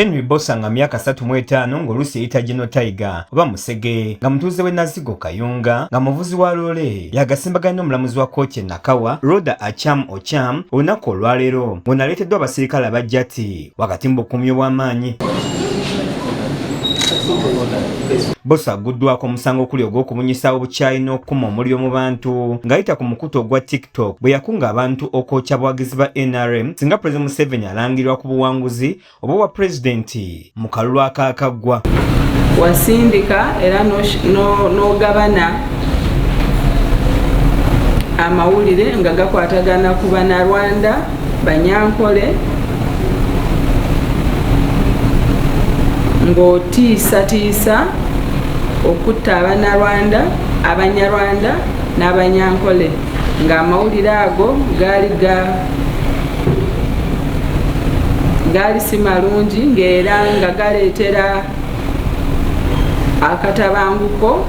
Henry Bosa nga myaka satu mu etaano ng'oluusi eyita Geno Tiger oba Musege nga mutuuze w'e Nazigo Kayunga nga muvuzi wa loole yagasimbaganye n'omulamuzi wa kkooti e Nakawa Rhoda Acham Ocham olunaku olwaleero ng'ono aleeteddwa abasirikale aba jati wakati mu bukuumi obw'amaanyi. Bosa agguddwako omusango okuli ogw'okubunyisa obukyayi n'okukuma omuliro mu bantu ng'ayita ku mukutu ogwa TikTok bwe yakunga abantu okwokya abawagizi ba nrm singa Pulezidenti Museveni alangirwa ku buwanguzi oba wa pulezidenti mu kalulu akaakaggwa wasindika era n'ogabana amawulire nga gakwatagana ku banarwanda banyankole ng'otiisatiisa okutta abanarwanda abanyarwanda n'abanyankole ng'amawulire ago gaali ga gaali si malungi ng'era nga galeetera akatabanguko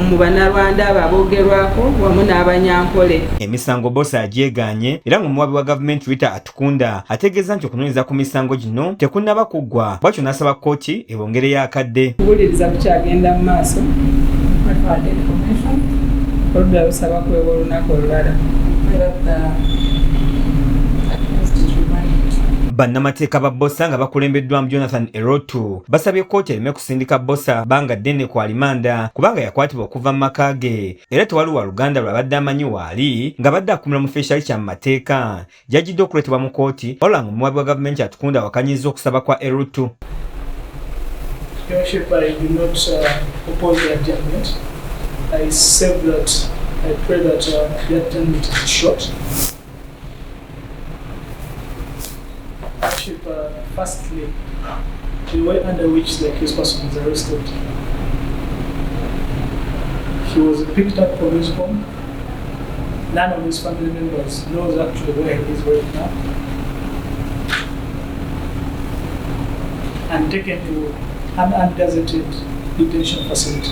mu banarwanda abo abogerwako wamu n'abanyankole emisango bosa agyeganye era ng'omuwabi wa gavumenti rita Kunda ategeeza nti okunoonyereza ku misango gino tekunnaba kuggwa bwatyo n'asaba kkooti ebongereyo akadde. Okuwuliriza kukyagenda mu maaso oludda lusaba kwewa olunaku olulala. bannamateeka ba bosa nga bakulembeddwamu jonathan erotu basabye kkooti ereme kusindika bosa banga ddene ku alimanda kubanga yakwatibwa okuva mu maka ge era tewali wa luganda lw'abadde amanyi waali ng'abadde akumira mu feeshali kya mu mateeka gyajjidde okuleetebwa mu kkooti olang omuwabi wa gavumenti atukunda awakanyizza okusaba kwa erutu Firstly, the way under which the accused person was arrested, he was picked up from his home. none of his family members knows actually where he is right now. And taken to an undesignated detention facility.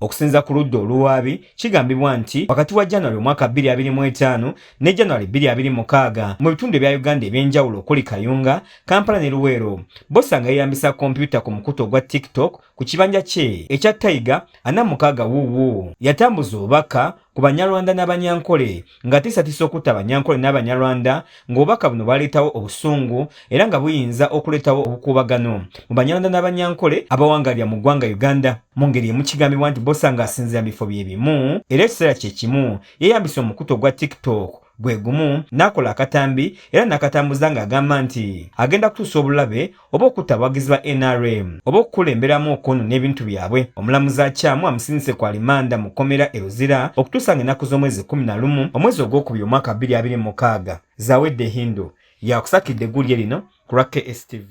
Okusinza ku ludda oluwaabi kigambibwa nti wakati wa January omwaka 2025 ne January 2026 mu bitundu ebya Uganda eby'enjawulo okuli Kayunga, Kampala ne Luweero bosanga yeeyambisa kompyuta ku mukutu ogwa TikTok ku kibanja kye ekya Tayiga ana mukaaga wuuwu yatambuza obubaka ku Banyarwanda n'Abanyankole ng'atiisatiisa okutta Abanyankole n'Abanyarwanda ng'obubaka buno bwaleetawo obusungu era nga buyinza okuleetawo obukuubagano mu Banyarwanda n'Abanyankole abawangalira mu ggwanga Uganda. Mu ngeri emu kigambibwa nti Bbosa ng'asinziira mu bifo bye bimu era ekiseera kye kimu yeeyambisa omukutu ogwa TikTok gwe gumu n'akola akatambi era n'akatambuza ng'agamba nti agenda kutuusa obulabe oba okutta abawagizi ba nrm oba okukulemberamu okwonona ebintu byabwe omulamuzi akyamu amusindise ku alimanda mu kkomera e luzira okutuusa nga ennaku z'omwezi kkumi na lumu omwezi ogwokubiri omwaka bbiri abiri mukaaga zawedde hindu yakusakidde eggulire lino ku lwa kstv